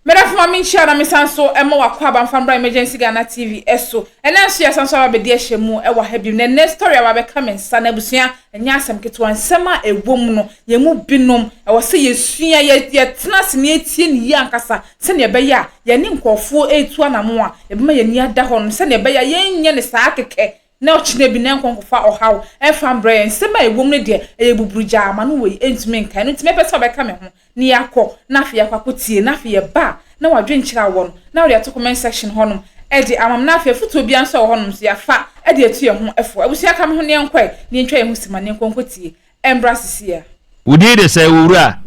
M'adamfo ma me nhyira na me san so ma wakɔ aba mfa mbra Emergency Ghana TV so. Ɛnɛ nso yɛsan so aba bɛdi ahyɛ mu wɔ ha bio. Na ɛnɛ story a wabɛka me nsa na abusua ɛnyɛ asɛm ketewa. Nsɛm a ɛwɔ mu no yɛn mu binom ɛwɔ sɛ yɛsua, yɛ yɛtena ase na yɛtie no yie ankasa sɛnea ɛbɛyɛ a yɛne nkurɔfoɔ ɛretu anamon a ɛbɛma yɛn ani ada hɔ no sɛnea ɛbɛyɛ a yɛrenyɛ no saa kɛkɛ Na ɔkyena bi na nkɔ nkɔfa ɔhaw mfa mbrɛ yɛn. Nsɛm a ɛwom no deɛ ɛyɛ buburugyaa ama no wei ntumi nkae. Ɛno nti mɛpɛ sɛ ɔbɛka me ho na yɛakɔ na afei yɛakɔ akɔtie no. Afei yɛba a na wadwenkyerɛ awɔ no na ɔde ato comment section hɔnom de ama me. Na afei afotuo biara nso a ɛwɔ hɔnom nso yɛafa de atu yɛn ho fo. Abusua ka me ho na yɛnkɔ ɛ na yɛntwa yɛn ho simma na yɛnkɔ nkɔtie Ɛmbra sisiɛ. Wo din de sɛn owura?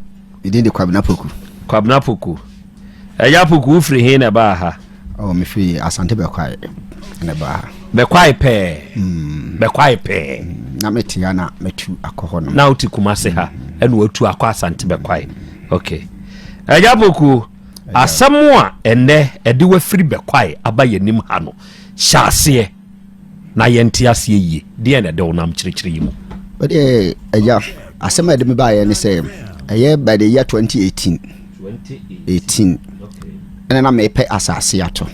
Me din de Kwabena Poku. Kwabena Poku. Agya Poku wo firi he na ɛbaa ha? Oh, me firi Asante Bɛkwae na ɛbaa ha. Bɛkwae pɛɛ? Mm. Bɛkwae pɛɛ. Mm. Na me te ha na matu akɔ hɔ no. Na wote Kumase ha mm. ɛna watu akɔ Asante Bɛkwae. Mm. Okay. Agya Poku, asɛm a ɛnɛ ɛde wafiri Bɛkwae aba yɛn anim ha no, hyɛ aseɛ. na yɛnte aseɛ yie deɛ na ɛde wo nam kyerɛkyerɛ yi mu. Wodeɛ agya asɛm a ɛde me baeɛ ne sɛ ɛyɛ by the year 2018 18 ɛna na mepɛ asase ato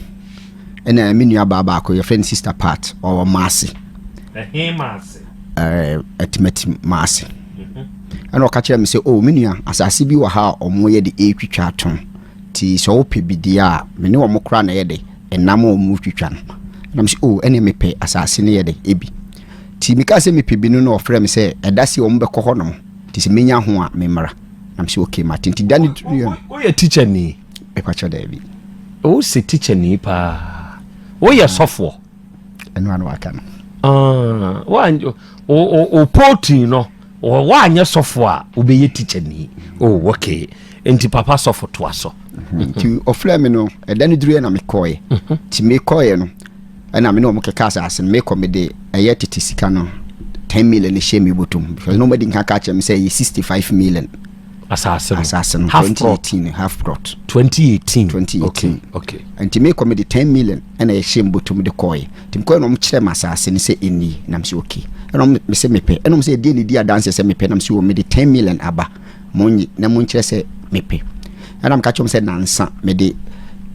ɛna me nua baa baako yɛfrɛ no sister part ɔwɔ maase atimatim maase ɛna ɔka kyerɛ me sɛ o oh, me nua asase bi wɔ ha a ɔmoyɛ de ɛtwitwa atom Nti sɛ wɔpɛ bi di a, me ne wɔn kora na ɛyɛ dɛ, ɛnam a wɔtwitwa no. Ɛna mese, Oo, ɛnneɛ mepɛ asase no yɛ dɛ, ebi. Nti mekaa sɛ mepɛ bi no na wɔfrɛɛ me sɛ, Ɛda sei wɔbɛkɔ hɔnom, nti sɛ mɛnya ho a, memmra. Ɛna mese, Okay, mate. Nti da no duruiɛ no. Woyɛ tikyani? Mepa kyɛw, daabi. Wose tikyani paa. Woyɛ sɔfoɔ? ɛno ano aka no ah, wopɔtin no woanyɛ sɔfo a wobɛyɛ tikyani oh, okay nti papa sɔfo toa so nti ɔfrɛ me no ɛda no duruɛ na mekɔɛ mhm. nti mekɔɛ no ɛna me ne ɔmo kɛka asase no mekɔ mede ɛyɛ tete sika no 10 million ne hyɛ me bɔtom because na ɔmadi nka ka kyerɛ me sɛ ɛyɛ 65 million asase no asase no 2018 half plot 2018 2018 okay okay nti mekɔ mede 10 million Ɛna yɛhyɛɛ mu bɔtɔm de kɔɔɛ. Nti mekɔɔɛ na ɔmo kyerɛɛ me asaase no sɛ ɛnni. Ɛna mese okay. Ɛna ɔmo mese mepɛ. Ɛna ɔmo se ɛdeɛn na ɛdi adanseɛ sɛ mepɛ? Ɛna mese oo mede ten million aba. Monye na monkyerɛ sɛ mepɛ. Ɛna meka kyerɛɛ ɔmo sɛ nansa mede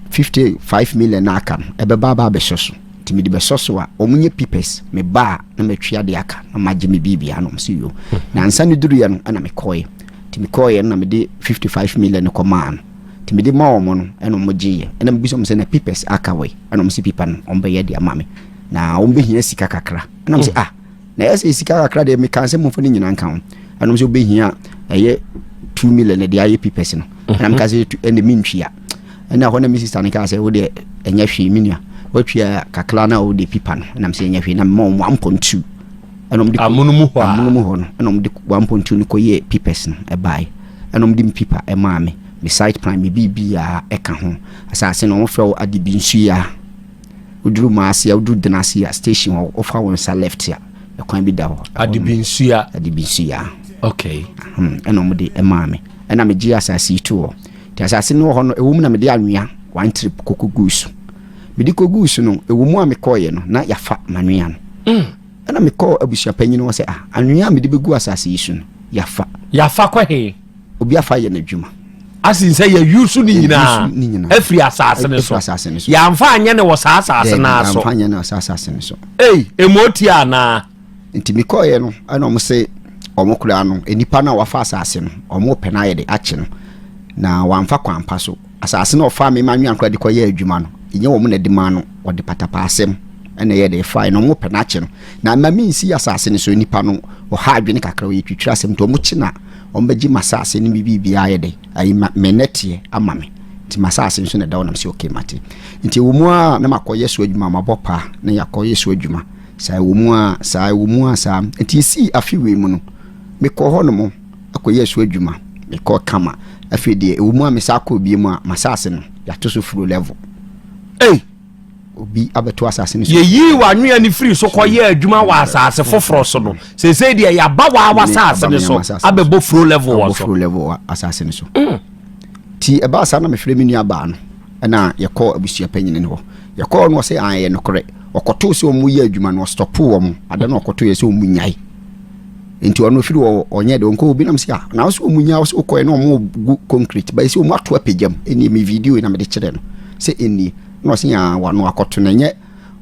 fifty five million no a aka no ɛbɛba aba abɛsɔ so. Nti mede bɛsɔ so a ɔmo nyɛ pipɛs. Meba a na matwi adeɛ aka na magye me biribiaa na ɔmo se yoo. Nansa no duruiɛ no ɛna mekɔɔɛ. Nti mekɔɔɛ no na mede fifty five million no kɔmaa no. Nti mede maa wɔn no ɛna wɔn gyeeɛ. Ɛna mebisa wɔn sɛ na papers aka wei? Ɛna wɔn sɛ paper no wɔn bɛyɛ de ama me. Na wɔn bɛhia sika kakra. Ɛna wɔn sɛ hmm. ah na ɛyɛ sɛ sika kakra deɛ meka sɛ momfa no nyinaa nka ho. Ɛna wɔn sɛ wobɛhia ɛyɛ two million de ayɛ papers no. Ɛna mhm. meka sɛ ɛna mentwia. Ɛna hɔ na me sista no kaa sɛ wo deɛ ɛnyɛ hwee me nua. Watwia kakra no a wode paper no. Ɛna me sɛ ɛnyɛ hwee na mema wɔn one point two. amono mu hɔ a. Amono mu hɔ no, ɛna wɔde one point two no kɔyɛɛ pipɛs no ɛbae. Ɛna wɔde me pipa ɛmaa me, me site plan, me biribiara ɛka ho. Asase no wɔfrɛ wo Adebinsuya. Woduru Maaseɛ, woduru Denaseya station hɔ, wofa wo nsa left a, ɛkwan bi da hɔ. Adebinsuya. Adebinsuya. Okay. Hmm, ɛna wɔde ɛmaa me. Ɛna megye asase yi to hɔ. Nti asase no wɔ hɔ no, ɛwɔ mu na mede anwea one trip kɔkɔguu so. Mede kɔguu so no, ɛwɔ mu a mekɔeɛ no, na yɛafa m'anwea no. Mm. Ɛnna mekɔɔ abusuapanyin hɔ sɛ, Ah, anwea a mede begu asase yi so no, yɛafa. Yɛafa kɔ he? Obi afa ayɛ n'adwuma. Asen sɛ yɛayusu ne nyinaa afiri asase no so. Yɛamfa anyɛ ne wɔ saa asase no ara so. Yɛamfa anyɛ ne wɔ saa asase no so. Ei, emu otie anaa? Nti mekɔeɛ no, ɛna wɔn se wɔn koraa no, nnipa no a wɔafa asase no, wɔn repɛ no ayɛ de akye no, na wɔamfa kwan pa so. Asase no a ɔfaa me manoa nkoraa de kɔyɛɛ adwuma no, ɛnyɛ wɔn na ɛde maa no, ɔde patapaasɛm na ɛyɛɛ dɛn? Ɛfaeɛ no, wɔpɛ no akye no. Na mma mensi asase no so nnipa no ɔha adwene kakra, wɔyɛ twitwiri asɛm nti, wɔkye no a, wɔbɛgye m'asase no me biribiara ayɛ dɛn? Ayi ma, me nnɛteɛ ama me, nti m'asase nso na ɛda hɔ na mesɛ ok, mate. Nti ɛwɔ mu ara na makɔyɛ so adwuma, mabɔ paa na yɛakɔyɛ so adwuma saa, ɛwɔ mu ara saa, ɛwɔ mu ara saa. Nti ɛsii afe wei mu no, mekɔɔ hɔnom. kɔyɛɛ so adwuma, mekɔɔ kama. Afei deɛ, ɛwɔ mu a mesan kɔɔ bio a, m'asase no, yɛato so furo level. Ei! Obi abɛto asase no so. Yɛyii w'anwea no firii so kɔyɛɛ adwuma wɔ asase foforɔ so no, seesei deɛ yɛaba wɔ w'asase no so abɛbɔ furo level wɔ so. Asase no so. Nti ɛbaa saa na mefrɛɛ me nuabaa no. Ɛna yɛkɔɔ abusua panyin no hɔ. Yɛkɔɔ no ɔse aane ɛyɛ nokorɛ. Ɔkɔtoo sɛ ɔmo yɛ adwuma no ɔstɔpoo wɔn. Ada no ɔkɔtoo yɛ sɛ ɔmo nyae. Nti ɔno firi hɔ ɔnyɛ dɛ ɔnkɔ. Obi nam se ah na ɔse ɔmo nyae ɔse ɔkɔɛ na ɔmo gu concrete bɛyɛ sɛ ɔmo ato apagya mu. Ɛnie me video yi na mede kyerɛɛ no sɛ ɛnie. Ɛna ɔse aah wano akɔto no ɛnyɛ.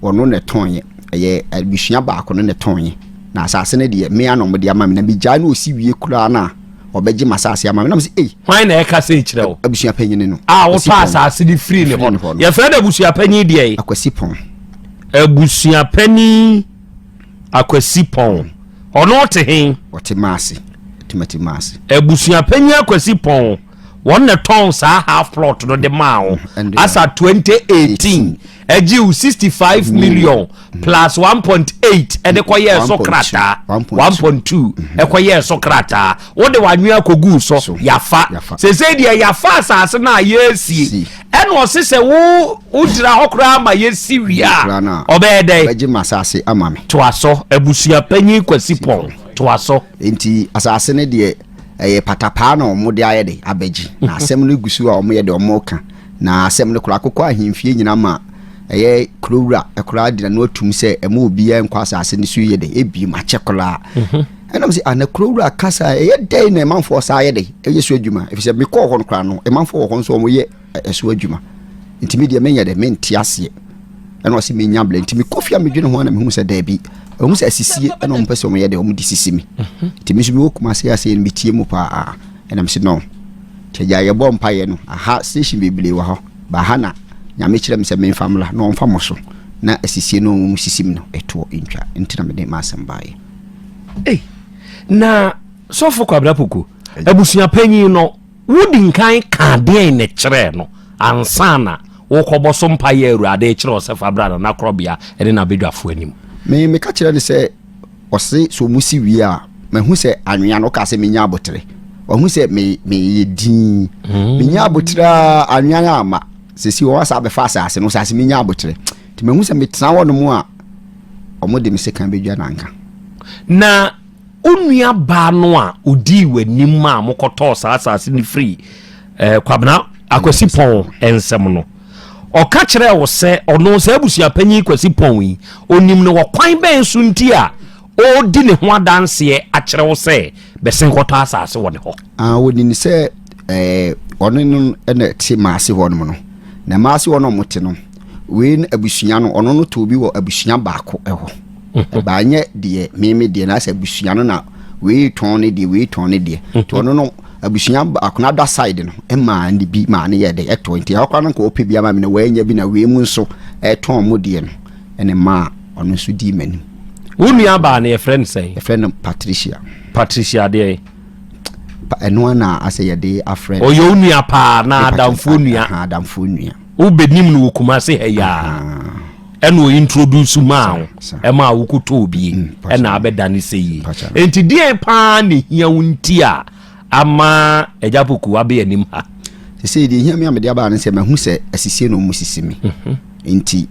Ɔno na ɛtɔeɛ. Ɛyɛ abusua baako no na ɛtɔeɛ. Na asase no deɛ, me ara na wɔde ama me. Na megyae no ɔsi wie koraa no a, ɔbɛgye m'asase ama me. Na mese, Ei! Hwan na ɛreka sei kyerɛ wo? Abusua panyin no. A wotɔ asase no firii ne hɔ no. Yɛfrɛ no abusua panyin deɛ? Akwasi Pɔn. Abusua panyin Akwasi Pɔn. Ɔno te he? Ɔte Maase. Timati Maase. Abusua panyin Akwasi Pɔn. wɔn na tɔn saa half plot no de maa ho mm, asa 2018 ɛgye wo sixty five million mm-hmm. plus one point eight ɛde kɔ yɛ ɛso krataa one point two mm-hmm. ɛkɔ yɛ ɛso krataa wode wanwea kogu so yafa sese deɛ yafa asase no a yɛresie ɛna ɔse sɛ wo wogyina hɔ koraa ma yɛsi wie a ɔbɛyɛ dɛn toa so abusua panyin kwasi pɔn toa so nti asase no deɛ ɛyɛ patapaa na wɔn de ayɛ de abɛgye na asɛm no gu so a wɔn yɛ de wɔn ka Na asɛm no koraa kokɔ ahemfie nyinaa ma ɛyɛ kurowura koraa de n'ano atum sɛ ɛma obiara nkɔ asase no so yɛ dɛ ebi ma kyɛ koraa mhm. ɛnam sɛ ana kurowura kasa ɛyɛ dɛn na ɛmanfoɔ saa yɛ dɛ ɛyɛ so adwuma efisɛ mekɔɔ hɔ no koraa no ɛmanfoɔ wɔ hɔ nso wɔyɛ ɛso adwuma nti me deɛ menyɛ dɛ mente aseɛ ɛna ɔsɛ menya blɛ nti mekɔ fie a medwene ho a na mehu sɛ daabi ɛhu sɛ asisie ɛna ɔmpɛ sɛ ɔmyɛ dɛ ɔmde sisi me mhm. nti me nso mewɔ kuma ase aseɛ no metie mu paa Ɛna mese no nti agya yɛbɔ mpaeɛ no aha station bebree wɔ hɔ ba ha na nyame kyerɛ me sɛ memfa mmra na ɔmfa mo so na asisie no ɔmo mu sisim no ɛtoɔ ntwa nti na mede m'asɛm baeɛ ei na sɔfo kwabra poko abusua panyin no wodi nkan ka deɛn ne kyerɛɛ no ansa na wokɔbɔ so mpaeɛ awurade kyerɛ ɔsɛ fa bra na nakorɔbea ɛne nabɛdwafoɔ anim me meka kyerɛ no sɛ Ɔse sɛ ɔmo si wie a, mahu sɛ anwea no ɔkaa sɛ menya abotere. Wahu sɛ me meyɛ dinn. Mm. Menya abotere a anwea no ama. Sɛsi wɔn asa abɛfa asase no, asase menya abotere. Nti mahu sɛ metena hɔ nom a, ɔmo de me sekan bɛdwa nanka. Na onua baa no a odii w'anim a mokɔtɔɔ saa asase no firi eh, kwabena akwasi pɔn nsɛm no Ɔka kyerɛɛ wo sɛ ɔno saa abusuapanyin Kwasi Pɔn yi, onim no wɔ kwan bɛn so nti a ɔredi ne ho adanseɛ akyerɛ wo sɛ bɛsen kɔtɔ asase wɔ ne hɔ? Ah, onim sɛ ɛɛ ɔno no na ɛte maase hɔ nom no. Na maase hɔ no ɔmo te no, wei no abusua no ɔno no too bi wɔ abusua baako hɔ. ɛbaa nyɛ deɛ meme deɛ na sɛ abusua no na wei tɔn ne deɛ wei tɔn ne deɛ nti ɔno no abusua baako no ada side no ɛmaa ne bi maa ne yɛ de ɛtɔ nti ɛhɔ koraa no nka ɔpɛ bi ama me na wɔanya bi na wei mu nso ɛtɔn mu deɛ no ɛne maa ɔno nso dii m'anim wo nua baa no yɛfrɛ no sɛn yɛfrɛ no patricia patricia deɛ ɛno ana asɛ yɛde afrɛ ɔyɛ wo nua paa na adamfoɔ nua adamfoɔ nua wobɛnim no wɔ kuma se ha yaa ɛna o introduce maa wo ɛma a wokɔtɔ obie mm, ɛna abɛdane sɛ yie enti deɛ paa na ɛhia wo nti a ama agya poku abɛ anim ha sɛsɛ deɛ ɛhia me a mede abaa no sɛ mahu sɛ asisie na ɔmu sisi me mhm. enti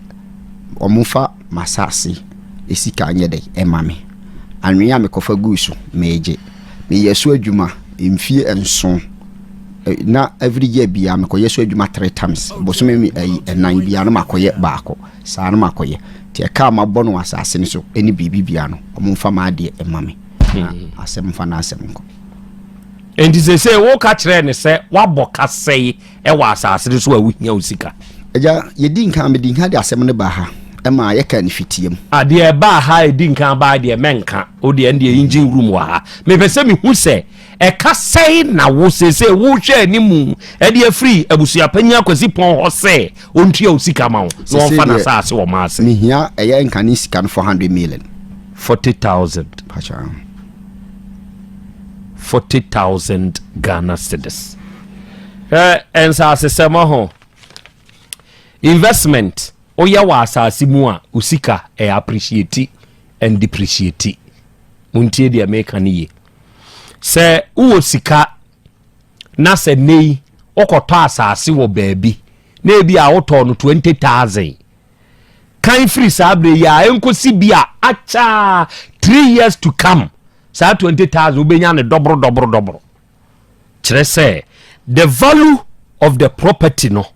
ɔmofa masase ɛsika nyɛ dɛ ɛma me anwea a mekɔfa guu so meegye meyɛ so adwuma mfie nson na every year biara mekɔyɛ so adwuma three times bosome mi ayi ɛnan biara no makɔyɛ baako saa no makɔyɛ nti ɛka a mabɔ no asase no so ɛne biribi biara no ɔmo nfa ma adeɛ ɛma me na asɛm nfa na asɛm nkɔ nti sɛ sɛ woka kyerɛ ne sɛ wabɔ kasɛe ɛwɔ asase no so a wohia wo sika agya yɛdi nka medi nka de asɛm no ba ha ɛma yɛka ne fitiam adeɛ ɛbaa ha ɛdi nka baa deɛ mɛnka wodeɛ ɛndeɛ engine room wɔ ha mepɛ sɛ mehu sɛ Ɛka sɛn na wo seesei wohwɛ anim de afiri abusua panyin akwasi pɔn hɔ sɛ ɔntua wo sika ma wo na ɔmfa n'asaase wɔ maa sɛ? Mehia ɛyɛ nkane sika no 400 million. 40,000. Pacha. 40,000 Ghana cedis. Hwɛ nsasesɛm ho investment woyɛ wɔ asase mu a wo sika ɛyɛ appreciate and depreciate. Montie deɛ meka no yie. sɛ wowɔ sika na sɛ nnɛ yi wokɔtɔ asase wɔ baabi na ebi a wotɔɔ no twenty thousand kan firi saa berɛ yi a ɛnkɔsi bi a akyɛa three years to come saa twenty thousand wobɛnya no dɔboro dɔboro dɔboro kyerɛ sɛ the value of the property no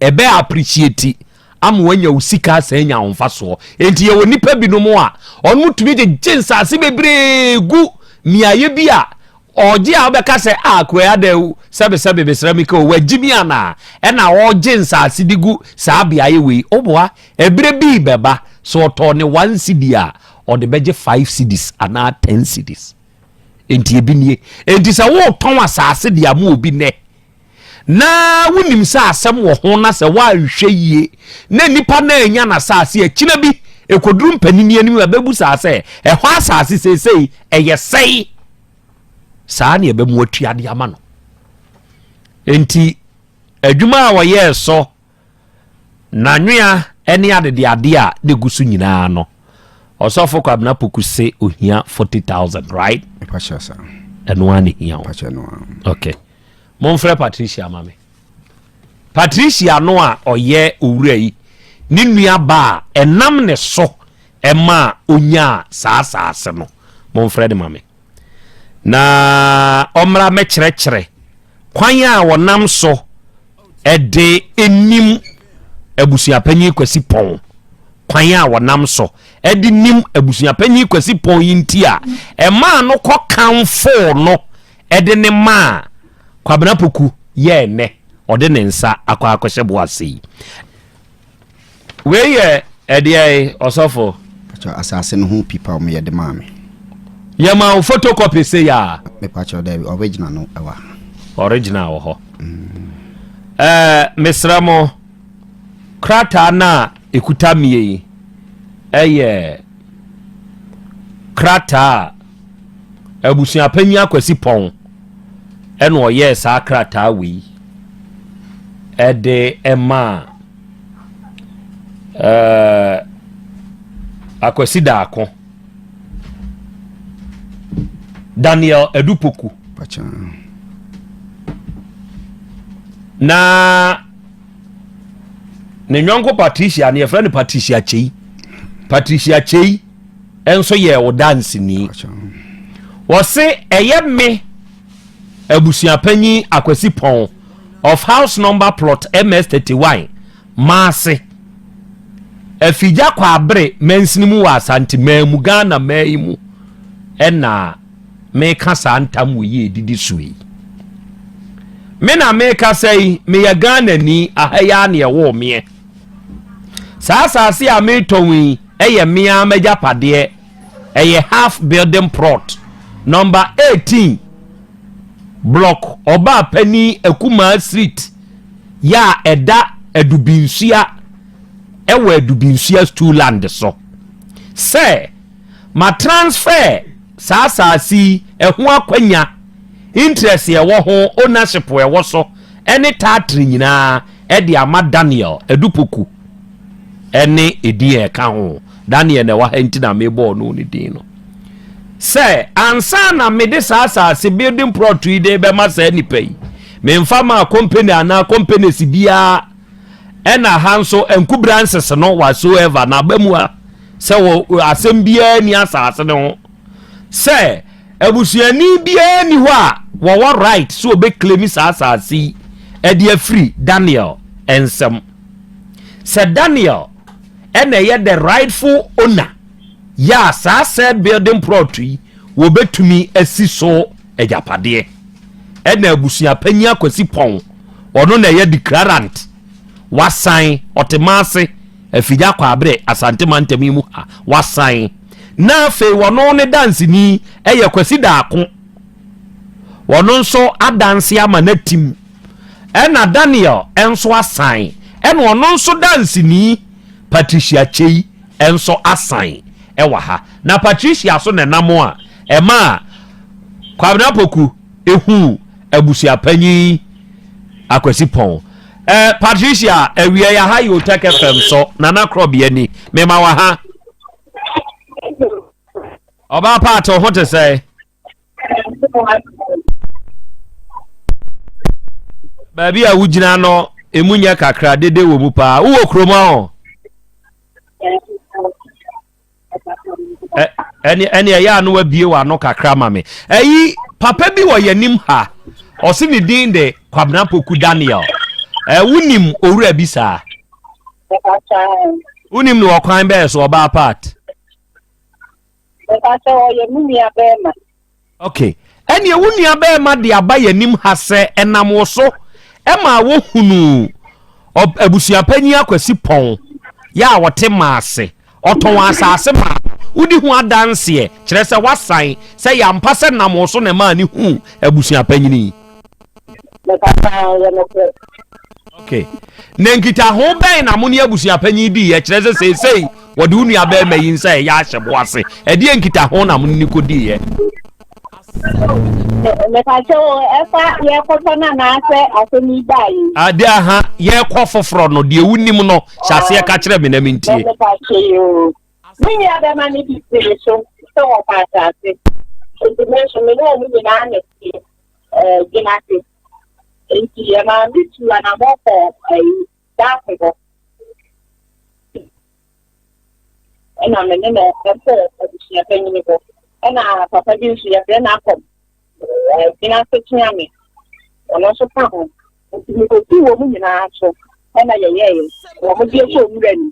ɛbɛ appreciate ama wanya wo sika asan anya ahomfasoɔ enti yɛwɔ nnipa binom a ɔno tumi gyegye nsaase bebree gu mmeaeɛ bi a ɔgye a wobɛka sɛ a ah, kuraa dɛ sɛbesɛbe mesrɛ me ka o wagye mi anaa ɛna ɔgye nsaase de gu saa beaeɛ wei woboa ɛberɛ bii bɛba so ɔtɔɔ ne one cd a ɔde bɛgye five cds anaa ten cds enti ebi nie enti sɛ wotɔn asaase de ama obi nɛ na wonim sɛ asɛm wɔ ho na sɛ woanhwɛ yie na nipa no anya n'asase akyina bi ɛkɔduru mpanini anim a ɛbɛbu saa sɛ ɛhɔ asase seesei ɛyɛ sɛe saa ne ɛbɛmu atuade ama no enti adwuma a wɔyɛɛ so N'anwea ne adedeadeɛ a na egu so nyinaa no, ɔsɔfo Kwabena Poku se ohia forty thousand, right? Ɛpakyɛ sa. Ɛno ara na ehia o. Ɛpakyɛ no ara. Okay. Momfrɛ Patricia ma me. Patricia no a ɔyɛ owura yi ne nua ba a ɛnam ne so ɛma a onyaa saa saase no. Momfrɛ no ma me. Na ɔmmra mɛkyerɛkyerɛ kwan a wɔnam so Ɛde nim abusuapanyin Kwasi Pɔn kwan a wɔnam so de nim abusuapanyin Kwasi Pɔn yi nti a ɛmaa no kɔ kamfoo no de ne maa Kwabena Poku yɛɛ nnɛ ɔde ne nsa akɔ akɔhyɛ bo ase yi. Wei yɛ ɛdeɛ yi ɔsɔfo. Pàtó asase no ho pipa ɔmo yɛ de maa mi. Yɛ maa wo photocopy se ya. Me pàtó dɛbi original no ɛwɔ ha. Original wɔ hɔ. Mm. Ɛɛ eh, mesrɛ mo krataa no a ekuta mie yi ɛyɛ krataa a. Abusuapanyin Akwasi Pɔn na ɔyɛɛ saa krataa wei de maa ɛɛ Akwasi Daako, Daniel Adupoku. Na ne nyɔnko Patricia no yɛfrɛ no Patricia Kyei. Patricia Kyei nso yɛɛ wo danseni. Wɔse ɛyɛ me abusuapanyin Akwasi Pɔn of house number plot MS 31 Maase, Afigya Kwabere mansini mu wɔ Asanteman mu, Ghana man yi mu na meka saa ntam wɔ yi edidi so yi. Me na mekasa yi, meyɛ Ghanani, aha yi ara na ɛwɔ meɛ. Saa asase a metɔn yi, Ɛyɛ me ara m'agyapadeɛ, ɛyɛ half building plot, number eighteen, block Ɔbaapanin Akumaa street yɛ a ɛda Adubinsuya ɛwɔ Adubinsuya Stool land so. Sɛ ma transfer saa asaase yi ɛho akwanya, interest ɛwɔ ho, ownership ɛwɔ so ɛne taatire nyinaa ɛde ama Daniel Adupoku. ne edin a ɛka ho. Daniel na ɛwɔ ha nti na mebɔ ɔno ne din no. Sɛ ansa na mede saa asase building plot yi de bɛma saa nipa yi, memfa maa company anaa companies biara ɛna ha nso nku branches no whatsoever na aba mu a sɛ wɔ asɛm biara ni asase no ho sɛ abusuani biara ni hɔ a wɔwɔ right sɛ wɔbɛklemi saa asase yi ɛde afiri Daniel nsɛm. Sɛ Daniel ɛna ɛyɛ the rightful owner yɛ a saa sɛ building plot yi wɔbɛtumi asi so agyapadeɛ ɛna abusua panyin akwasi pɔn ɔno na ɛyɛ declarant wasan ɔtemase afigya kɔ abere asante mantam yi mu ha wasan na afei wɔno ne danseni ɛyɛ kwasi daako wɔno nso adanse ama no atim Ɛna Daniel nso asan, ɛna ɔno nso danseni Patricia Kyei nso asan ɛwɔ ha. Na Patricia so na ɛnam a ɛma Kwabena Poku ehu abusuapanyin Akwasi Pɔn. Ɛ Patricia ɛwiɛ yɛ ha yɛ Otɛk FM so Nana Korɔbea ni mema wɔ ha. Ɔbaa paate ɔho te sɛ. baabi a wogyina no emu nyɛ kakra dede wɔ mu paa wowɔ kurom ahɔ ɛne ɛne ɛyɛ ano abie wɔ ano kakra ma me ɛyi papa bi wɔ yɛn anim ha ɔsi ne din de kwabena poku daniel ɛwo nim owura bi saa wonim no ɔkwan bɛyɛ so ɔbaa part Meka sɛ ɔyɛ me nua bɛɛma. Ok, ɛneɛ wo nua bɛɛma de aba yɛnim ha sɛ ɛnam wo so ɛmaa wɔ hunuu ɔb abusuapanyin Akwasi Pɔn yɛ a ɔte Maase, ɔtɔn asaase maa no, wodi ho adanseɛ, kyerɛsɛ wasan sɛ yɛ ampa sɛ ɛnam wo so na ɛmaa ne huu abusuapanyin yi. okay na nkitaho bɛn na mo ne abusuapanyin di yɛ kyerɛ sɛ seesei wɔde wo nua bɛrima yi nsa ɛyɛ ahyɛ bo ase ɛdeɛ nkitaho na mo ne kɔ di yɛ. mepatɛ o ɛfa yɛkɔtɔ no anaasɛ asɛm yi baa yi. ade aha yɛkɔ foforɔ no deɛ wonim no hyɛ aseɛ ka kyerɛ me na mentie. mepatɛ yi o. Me nuabarima no bi gyee so sɛ wɔpɛ asase, enti me nso me ne wɔn nyinaa na ɛte eh, Gyinase. Enti ɛmaa me tuu anammɔn kɔɔ eh, Daase hɔ, ɛna me ne no kɔɔ abusua panyin hɔ. Ɛna papa bi nso yɛfrɛ no akɔm eh, Gyinase kyea me, ɔno nso ka ho. Enti mekɔtuu wɔn nyinaa so, ɛna yɛyɛeɛ, wɔn deɛ kɔɔ nwura ni.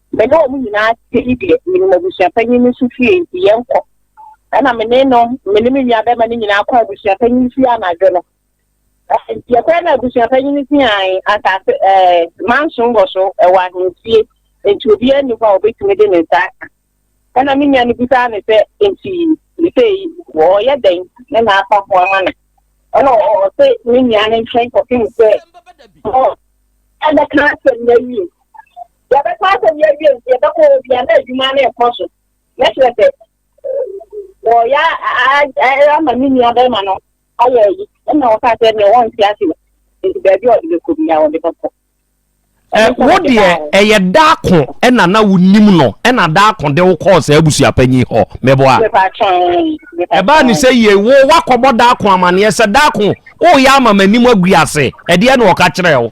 Me ne wɔn nyinaa te yi deɛ, menim abusuapanyin no nso fie, enti yɛnkɔ. Ɛnna me ne no, me ne me nuabarima no nyinaa kɔɔ abusuapanyin no fie anadwo no. Enti yɛkɔɛ na abusuapanyin no siae asase ɛɛ manson wɔ so, ɛwɔ ahemfie, enti obiara nni hɔ a obetumi de ne nsa aka. Ɛnna me nua no bisaa no sɛ, Enti sɛ yi, wɔreyɛ dɛn ne n'afa ho ama no? Ɛnna ɔte me nua no nkyɛn kɔpem sɛ ɔbɛka asɛm no awie. Yɛbɛka asɛm yi awie nti yɛbɛkɔ hɔ bia na adwuma no ɛkɔ so. Mɛkyerɛ sɛ wɔyɛ ama me nua bɛrima no ayɛ ayi ɛna wɔka sɛ ne wɔnte ase no nti baabi a ɔde bɛkɔ bia wɔde bɛkɔ. Wo deɛ ɛyɛ daako ɛna na wonim no ɛna daako de wo kɔɔ saa abusuapanyin hɔ mɛboa. Ɛbaa ne sɛ yie wo wakɔbɔ daako amaneɛ sɛ daako woyɛ ama m'anim agu ase ɛdeɛ na ɔka kyerɛ wo.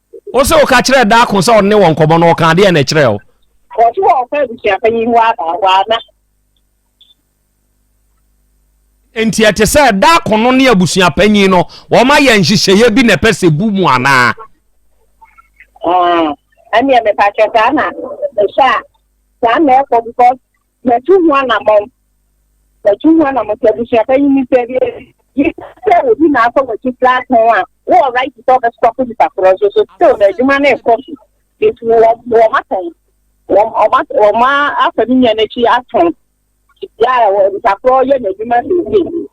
Wo se woka kyerɛɛ Daako sɛ ɔne wɔ nkɔmmɔ no, ɔkaa deɛ na ɛkyerɛɛ wo? Ɔse wɔ ɔfa abusuapanyin hɔ aba hɔ a na. Nti ɛte sɛ Daako no ne abusuapanyin no wɔn ayɛ nhyehyɛeɛ bi na ɛpɛ sɛ bu mu anaa? Ɛnneɛ mepakyɛ saa na ɛhyɛ a saa na ɛkɔ because Matu ho anammɔn. Matu ho anammɔn sɛ abusua pa yi nipa bi adi. Yɛ sɛ obi na asɔ w'akyi firi atɔn a, wowɔ right sɛ wobɛsɔpo nipa korɔ nso so still no adwuma no rekɔ so nti wɔn atɔn. Wɔn afa ne nua no akyi atɔn. Yɛ a nipa korɔ yɛ n'adwuma seesei.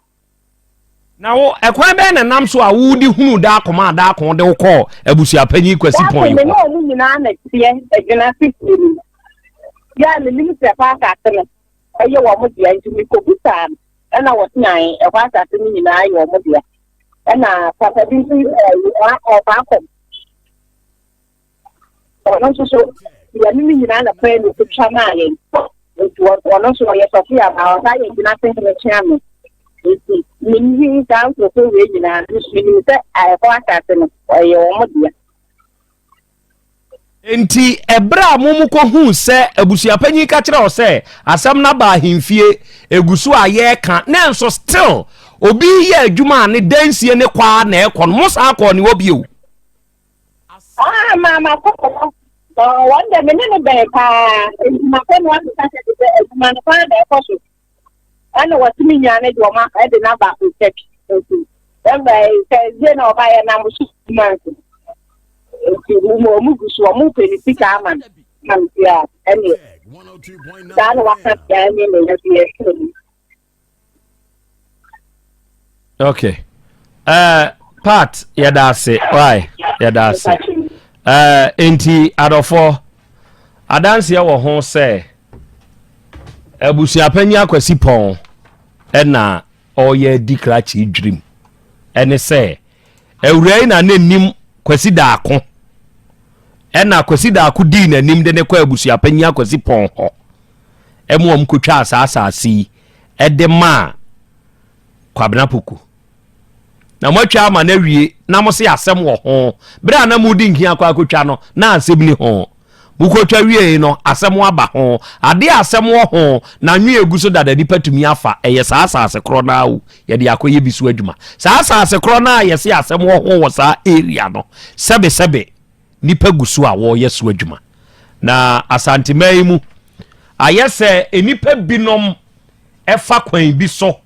Na wo, ɛkwan bɛn na nam so a wode hunuu daako maa daako wode wo kɔɔ abusuapanyin Kwasi Pɔn yi hɔ? Daako me ne wɔn nyinaa na teɛ Adwena Fifie no mu. Yɛ a menim sɛ ɛhɔ asase no yɛ wɔn dea nti mekɔbisaa no ɛna wɔse ae, ɛhɔ asase no nyinaa yɛ wɔn dea. Ɛna papa bi nso ɔɔba akɔ ɔno nso so yɛne no nyinaa na pɛɛ ne kutwa maa yɛn nti ɔno nso ɔyɛ sɔfo yɛ ama ɔtaa yɛ gyina sɛ hene kyea no nti menim saa nkurɔfo wei nyinaa menim sɛ ɛhɔ asase no ɔyɛ wɔn deɛ nti ɛberɛ a mo mu kɔhuu sɛ abusuapanyin ka kyerɛ ɔ sɛ asɛm no aba ahemfie ɛgu so a yɛreka na nso still obi yɛ adwuma a ne dansie ne kwaa na ɛkɔ no mo saa kɔɔ ne hɔ bio Ah, maa makɔ hɔ no, wɔn dɛ me ne no bɛn paa, nti makɔ no asesa sɛ te sɛ adwuma no paa na ɛkɔ so. Ɛna wɔtumi nyaa ne de wɔma ɛde no aba Turkey. Nti ɛmɛ sɛ ɛdie na ɔba yɛ nam so adwuma nti. Nti wɔn wɔn gu so wɔn pɛ ne sika ama no. Nam si a ɛne saa na waka deɛ ɛne ne yɛ deɛ ɛsɛ mu. okay uh, part yɛda ase why yɛda ase uh, nti adɔfoɔ adanseɛ wɔ ho sɛ abusuapanyin akwasi pɔn ɛna ɔyɛ di krakye dwirim ɛne sɛ awura yi na n'anim kwasi daako ɛna kwasi daako dii n'anim de ne kɔ abusuapanyin akwasi pɔn hɔ ma wɔkɔtwaa saa asase yi de maa Kwabena Poku. Na moatwa ama no awie na mo se asɛm wɔ ho. Berɛ a na mode nhia kɔ akɔtwa no, na asɛm ni ho. Mokɔtwa wiei no, asɛm aba ho. Adeɛ a asɛm wɔ ho na anwene gu so dada nipa tumi afa, ɛyɛ saa asase korɔ no ara o, yɛde akɔyɛ bi so adwuma. Saa asase korɔ no a yɛse asɛm wɔ ho wɔ saa area no, sɛbesɛbe, nnipa gu so a wɔreyɛ so adwuma. Na Asanteman yi mu ayɛ sɛ nnipa binom ɛfa kwan bi so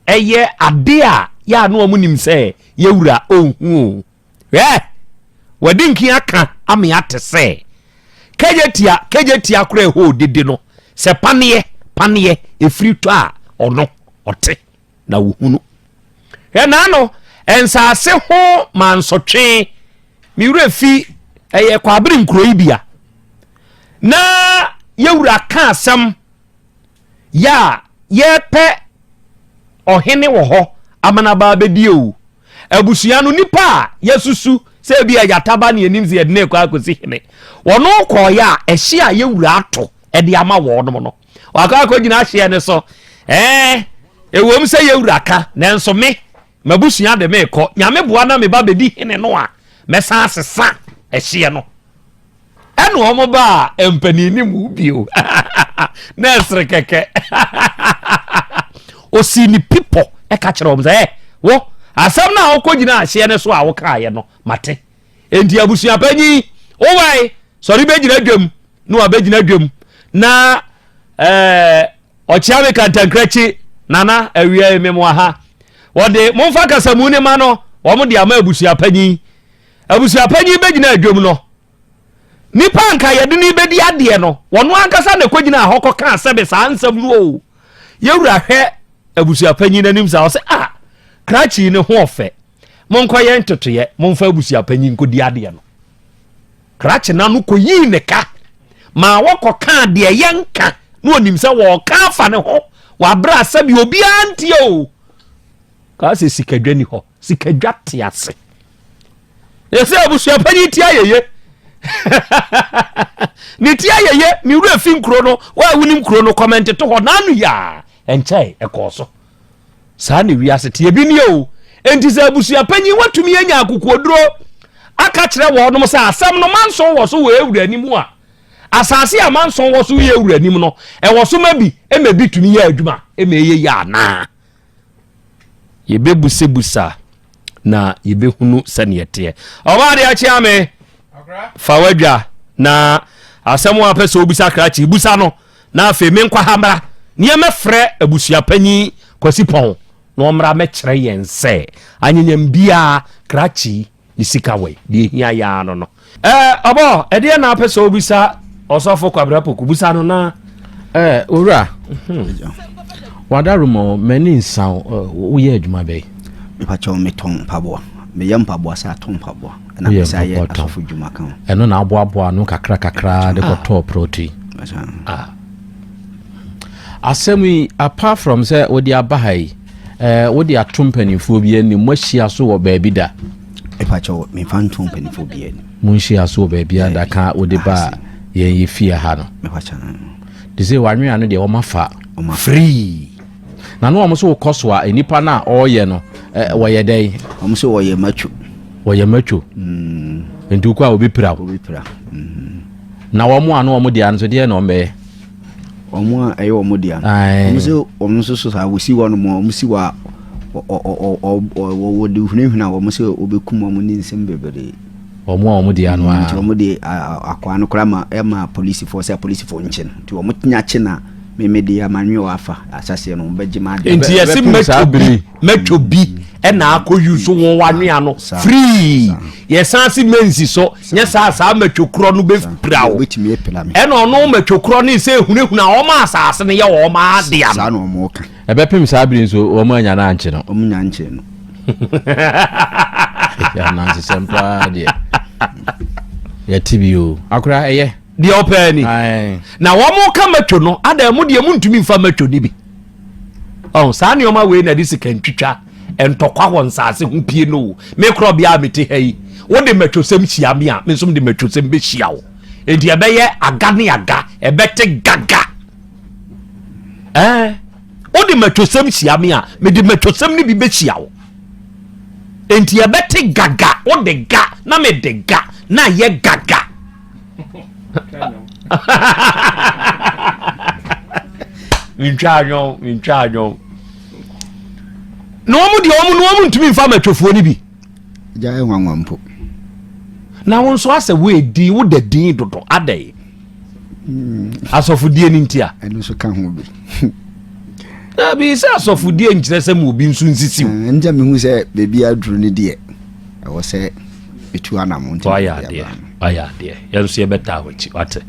ɛyɛ ade a yɛ a no ɔmo nim sɛ yɛwura ɔnhu o. Hwɛ! Wɔde nkin aka ame ate sɛ kɛgye tia kɛgye tia kora ɛhɔ odidi no sɛ paneɛ paneɛ ɛfiri tɔ a ɔno ɔte. na wɔhunu ɛnaa no nsaase ho mansɔtwe me werɛ fi ɛyɛ kwabere nkuro yi bia na yɛwura ka asɛm yɛ a yɛpɛ ɔhene wɔ hɔ amanabaa bɛdie o abusua no nipa a yɛsusu sɛ bi a yɛataba ne anim sɛ yɛde no ɛkɔ akɔsi hene wɔno kɔɔyɛ a ɛhye a yɛwura ato ɛde ama wɔnom no Wakɔ akɔgyina ahyeɛ no so. Ɛɛ, ɛwom sɛ yɛ wura ka, nanso me, m'abusua de meekɔ. Nyame boa na meba bɛdi hene no a, mɛsan asesa ɛhyeɛ no. Ɛna wɔn baa mpanin no mu bio. na ɛsere kɛkɛ. Ɔsii ne pipɔ ɛka kyerɛ wɔn sɛ, ɛ, wo, asɛm no a wokɔgyina ahyeɛ no so a wokaeɛ no, mate. Enti abusuapanyin, wo wae, sɔre bɛgyina dwam, na wabɛgyina dwam, na ɛɛ ɔkyeame kantankira kyi, nana awia yi memo aha. Wɔde momfa kasamu ne ma no, wɔn de ama abusuapanyin. Abusuapanyin bɛgyina dwam no, nipa anka yɛde no bɛdi adeɛ no, wɔn ankasa na ɛkɔgyina hɔ kɔka sɛbe saa nsɛm no o. Yɛwura hwɛ abusuapanyin n'anim saa, ɔsɛ a ah, krakyi ne ho ɔfɛ. monkɔyɛ ntotoeɛ momfa abusuapanyin nkɔdi adeɛ no krakye no ano kɔyii ne ka ma wɔkɔkaa deɛ yɛnka na ɔnim sɛ wɔɔka afa ne ho wɔabrɛ asɛm yɛ obiara ntie o kaa sɛ sikadwa ni hɔ sikadwa te ase ɛsɛ abusuapanyin ti ayɛyɛ ne ti ayɛyɛ ne wura fi nkuro no wɔawonim kuro no kɔmɛnte to hɔ n'ano yɛ a ɛnkyɛe ɛkɔɔ so saa na wiase teɛ bi nie o enti sɛ abusua panyin watumi anya akokoɔduro aka kyerɛ wɔnom sɛ asɛm no manson wɔ so wɔ awura anim a asase a manson wɔ so yɛ awura anim no ɛwɔ so ma bi ma bi tumi yɛ adwuma ma ɛyɛ yɛ anaa yɛbɛbusabusa na yɛbɛhunu sɛneɛ teɛ ɔbaa deɛ akyea me fa wadwa na asɛm a pɛ sɛ wobisa krakye busa no na afei menkɔ ha mmra neɛ mɛfrɛ abusuapanyin Kwasi Pɔn na ɔmmra mɛkyerɛ yɛn sɛ anyanyam biaa krakye ne sika wɔ deɛ ɛhia yɛ ara no no. Ɛɛ ɔbɔ ɛdeɛ na apɛ sɛ ɔbisa ɔsɔfo Kwabena Poku busa no na. Ɛɛ owura wadaroma o m'ani nsa o woyɛ adwuma bɛn. Mepakyɛw metɔn mpaboa meyɛ mpaboa sɛ atɔn mpaboa. woyɛ mpaboatam. Ɛno na aboaboa ano kakra kakra de kɔtɔɔ prɔte. Ah. Asɛm yi apart from sɛ wode aba ha yi, ɛɛ wode ato mpanimfoɔ bi anim, moahyia so wɔ baabi da. Ɛpakyɛw mefa nto mpanimfoɔ bi anim. Monhyia so wɔ baabi a da ka wode ba a yɛn yɛ fie ha no. Te sɛ wanwea no deɛ wɔma fa free. Na ne wɔn nso rekɔ so a nnipa no a ɔreyɛ no wɔyɛ dɛn? Wɔn nso wɔyɛ matwo. Wɔyɛ matwo. Mm. Nti wokɔ a obi pira wo. Obi pira. Mm. Na wɔn a ne wɔn deɛ nso deɛ na wɔn bɛyɛ. Wɔn a ɛyɛ wɔn deɛ no. Wɔn nso wɔn nso so saa wɔsi wɔn mo wɔn si wɔ a wɔde hunahuna wɔn sɛ wɔbɛkum wɔn ne nsɛm bebree. Wɔn a wɔn deɛ ano ara. Nti wɔn de akwaa no koraa ma ɛma polisifoɔ sɛ polisifoɔ nkye no. Nti wɔn tenya kye na meme de amanwe wɔ afa asaseɛ no wɔn bɛgye ma adeɛ. Nti yɛsi mɛtɔ bi mɛtɔ bi ɛna akɔ yi so wɔn wanwea no free. Yɛsan si mɛnsi so nyɛ saa saa mɛtɔ korɔ no bɛ pira o. Ɛna ɔno mɛtɔ korɔ ne sɛ ehunahuna wɔn asase no yɛ wɔn adeɛ no. Ɛbɛpem saa bere nso wɔn annya no ankye no. Wɔn nnya nkyee no. Anansesɛm paa deɛ. Yɛte bi o. Akora ɛyɛ. Deɛ ɔpɛɛ ni. Na wɔn ka matwo no adan mu deɛ mu ntumi nfa matwo ni bi. Ɔn saa nneɛma wei na de sika ntwitwa ntɔkwa wɔ nsaase ho pie no o. Me korɔ bia a mete ha yi. Wo de matwo sɛm hyia me a, me nso de matwo sɛm bɛhyia wo. Enti ɛbɛyɛ aga ne aga, ɛbɛte gaga. ɛɛ wode mmatwosɛm hyia me a mede mmatwosɛm no bi bɛhyia wo enti ɛbɛte gaga wode ga na mede ga na ɛyɛ gaga mentwa anwɔn mentwa anwɔn na wɔn deɛ wɔn no wɔn ntumi nfa mmatwofoɔ no bi. gya ɛnwanwa mpo. na wɔn nso asɛ wo edi wo da din dodo adɛ. hmm. asɔfodie no nti a ɛno nso ka ho bi dabi sɛ asɔfodie nkyerɛ sɛ ma obi nso nsisiw hmm, ɛnkyɛ mehu sɛ baabi aduru no deɛ ɛwɔ sɛ ɛtu anamo nti ayɛ adeɛ ayɛ adeɛ yɛn nso yɛbɛtaa wakyi wate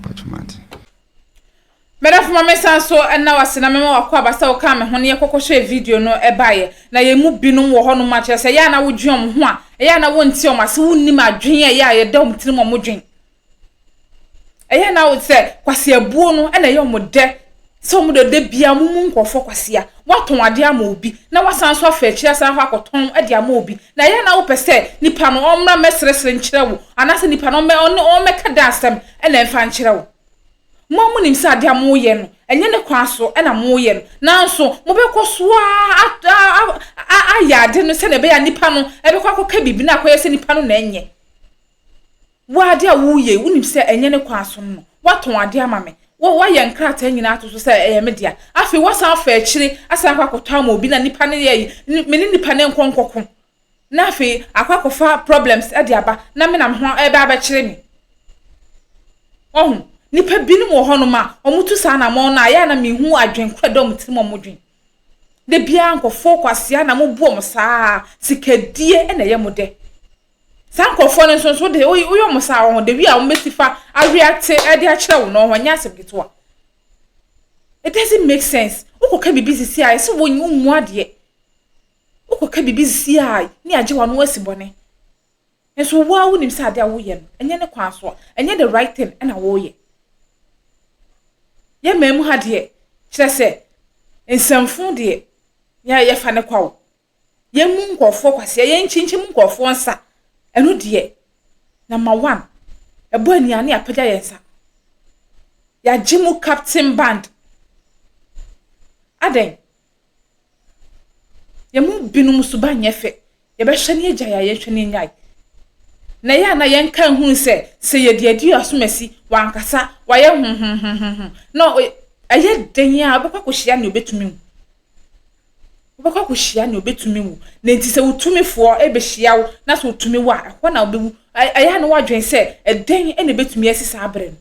mɛdɛfo ma mesan so ɛna wase na mɛma wakɔ abasa wo kaa me ho ne yɛkɔkɔ hyɛ video no ɛbaeɛ na yɛn mu binom wɔ hɔnom akyerɛ sɛ ɛyɛ a na wodwen ɔmo ho a ɛyɛ a na wonti ɔmo ase wonnim adwen a ɛyɛ a yɛda ɔmo tirim ɔmo dwen Ɛyɛ na wo sɛ kwaseabuo no na ɛyɛ wɔn dɛ sɛ wɔn dɛ da biara wɔn mu nkurɔfoɔ kwasea wɔatɔn adeɛ ama obi na wasan nso afa akyiri asan akɔ akɔtɔn de ama obi na ɛyɛ na wopɛ sɛ nipa no ɔmmra mmɛseresere nkyerɛ wo anaasɛ nipa no ɔmmɛ ɔne ɔmmɛka da asɛm na ɛmfa nkyerɛ wo. Mo a monim sɛ adeɛ a moyɛ no ɛnyɛ ne kwan so na moyɛ no nanso mobɛkɔ so ara ayɛ ade no sɛdeɛ ɛbɛyɛ a nipa no bɛkɔ akɔka biribi na akɔyɛ sɛ nipa no na ɛnyɛ. Wo ara ade a woreyɛ yi, wonim sɛ ɛnyɛ ne kwan so no. Woatɔn ade ama me. Wo, woayɛ nkrataa nyinaa ato so sɛ ɛyɛ me dea. Afei woasan afa akyire asan akɔ akɔtɔ ama obi na nipa no yɛ yi. Me ne nipa no nkɔ nkɔko na afei akɔ akɔfa problems de aba na me na me ho ɛbɛ abɛkyere me. Wahu? Nipa binom wɔ hɔnom a, wɔn tu saa na wɔn no a, yɛ a na me hu adwene kora da wɔn tirim wɔn dwen. Da biara nkɔfoɔ kwasea na mo bu wɔn saa, sikadie na ɛyɛ mo dɛ. Saa nkorɔfoɔ no nso nso de woyɛ woyɛ wɔn saa wɔn the way a wɔn bɛsi fa awe ate ɛde akyerɛ wo no wɔn nyɛ asɛm ketewa it doesn't make sense wokɔ ka biribi sisi a ɛsɛ wɔn wɔn mu adeɛ wokɔ ka biribi sisi a ne agye wɔn ano asi bɔne nso wo a wonim sɛ adeɛ a woyɛ no ɛnyɛ ne kwan so ɛnyɛ the right thing ɛna wɔyɛ yɛ mmaa mu ha deɛ kyerɛ sɛ nsɛmfo deɛ yɛ yɛfa ne kwa o. yɛmmu nkurɔfoɔ kwasea, yɛnkyinkyim nkurɔfoɔ nsa, ɛno deɛ, number one, ɛbɔ aniaa ne yɛapagya yɛn nsa. Yɛagye mu captain band. Adɛn? Yɛn mu binom suban nyɛ fɛ. Yɛbɛhwɛ ne yɛgyae a yɛnhwɛ ne yɛnyae. Na ɛyɛ a na yɛnka nhunu sɛ sɛ yɛde adi asomasi, wankasa, wayɛ ho ho ho ho ho, na ɛyɛ den a wobɛkɔ akɔhyia nea ɔbɛtumi wo. wobɛkɔ akɔhyia nea obetumi wo na nti sɛ wotumifoɔ ɛbɛhyia wo na sɛ otumi wo a ɛhɔ na wobɛwu ɛyɛ a na woadwen sɛ ɛdɛn ɛna ɛbɛtumi asi saa berɛ no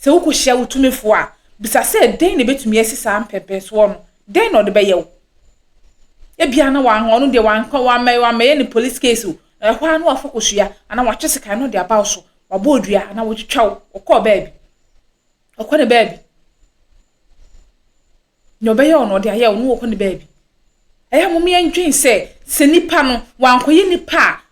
sɛ wokɔhyia wotumifoɔ a bisa sɛ ɛdɛn na ɛbɛtumi asi saa mpɛmpɛnsoɔ no dɛn na ɔde bɛyɛ wo ebia na wɔn ɔno deɛ wɔankɔ wɔamɛ wɔamɛyɛ ne police case o ɛhɔ a na wafa kɔsua anaa watwe sekan no de aba wo so wabɔ odua anaa wɔtwitwa wo ɔkɔɔ baabi ɔkɔ ne baabi Nea ɔbɛyɛ wo no, ɔde ayɛ wo na ɔkɔ ne baabi. Ɛyɛ a mom yɛndwen sɛ, sɛ nipa no, wankɔyɛ nipa a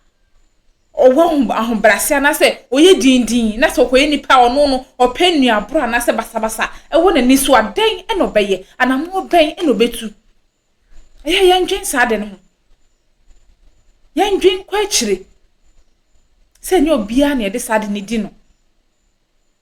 ɔwɔ ahobrɛase anaasɛ ɔyɛ dindin na sɛ ɔkɔyɛ nipa a ɔno no ɔpɛ nnuaborɔ anaasɛ basabasa ɛwɔ n'ani so a, dɛn na ɔbɛyɛ? Anammɔ bɛn na ɔbɛtu? Ɛyɛ a yɛndwen saa ade no ho. Yɛndwen kɔ akyire sɛ ɛnyɛ obiara na yɛde saa ade no di no.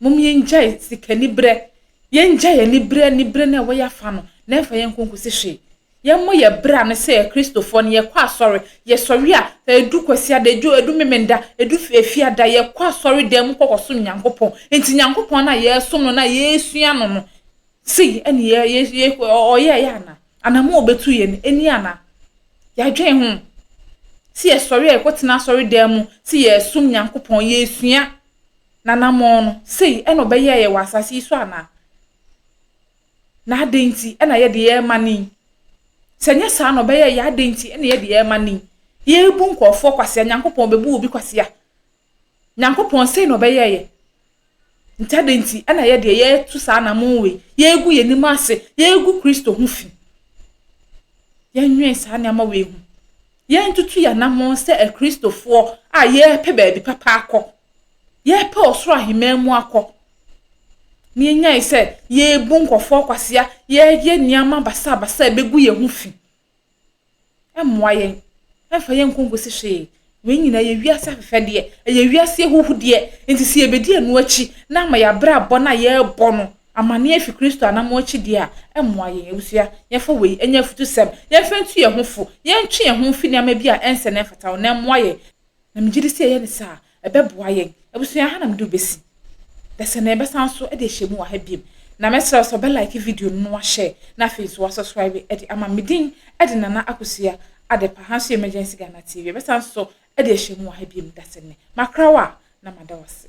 Mom yɛngyae sika nibrɛ. Yɛngyae anibrɛ anibrɛ no a ɛwɔ yɛafa no na ɛmfa yɛn nkɔ nkosi hwee. Yɛmmɔ yɛ bra no sɛ Kristofoɔ no yɛkɔ asɔre. Yɛsɔre a ɛdu kwasiada, ɛdu ɛdu memenda, ɛdu efiada yɛkɔ asɔre dan mu kɔ kɔsom Nyankopɔn. Nti Nyankopɔn no a yɛresom no no a yɛresua no no sei ɛne yɛ yɛ yɛ ɔyɛɛyɛ anaa? anamɔn a obetu yɛ no ni ana? Yɛadwen ho? Sɛ yɛsɔre a yɛkɔtena asɔredan mu sɛ yɛresom Nyankopɔn, yɛresua n'anamɔn no, sei na ɔbɛyɛɛ yɛn wɔ asase yi so anaa? Na adɛn nti na yɛde yɛn mma no yi? Sɛ ɛnyɛ saa na ɔbɛyɛɛ yɛn a, adɛn nti na yɛde yɛn mma no yi? Yɛrebu nkurɔfoɔ kwasea, Nyankopɔn obebu obi kwasea? Nyankopɔn sei na ɔbɛyɛ yɛ. Nti adɛn nti ɛna yɛ deɛ yɛtu saa anamɔn wei, yɛgu yɛn anim ase, yɛgu Kristo ho fi? Yɛnwɛn saa nneɛma wei ho. Yɛntutu yɛn anamɔn sɛ akristofoɔ a yɛrepɛ baabi papa akɔ. Yɛrepɛ ɔsoro aheman mu akɔ. Na yɛnyae sɛ yɛrebu nkurɔfoɔ kwasea, yɛyɛ nneɛma basabasa a ɛbɛgu yɛn ho fi. ɛmmoa yɛn, ɛmfa yɛn nkɔ nkosi hwee. Wei nyinaa yɛ wiase afɛfɛdeɛ, ɛyɛ wiase ahuhudeɛ. Nti sɛ yɛbɛdi ɛno akyi na ama yɛabrabɔ no a yɛrebɔ no amanneɛ afi Kristo anammɔn akyi deɛ a, ɛmmoa yɛn. Abusua, yɛmfa wei nyɛ afutusɛm. Yɛmfa ntu yɛn ho fo. Yɛntwe yɛn ho mfi nneɛma bi a ɛnsɛ na ɛmfata ho na ɛmmoa yɛn. Na megye di sɛ yɛyɛ no saa a, ɛbɛboa yɛn. Abusua, ha na mede wo bɛsi. Dɛsɛ na yɛbɛsan so de ahyia mu wɔ ha bio. Na mɛsrɛ wo sɛ ɔbɛ like video no na washare na afei nso wasɔsraibe de ama me. Me din de Nana Akosua Adepa. Ha nso yɛ Emergency Ghana TV. Yɛbɛsan so de ahyia mu wɔ ha bio. Dɛsɛ nnɛ. Makra wo a, na mada wo ase.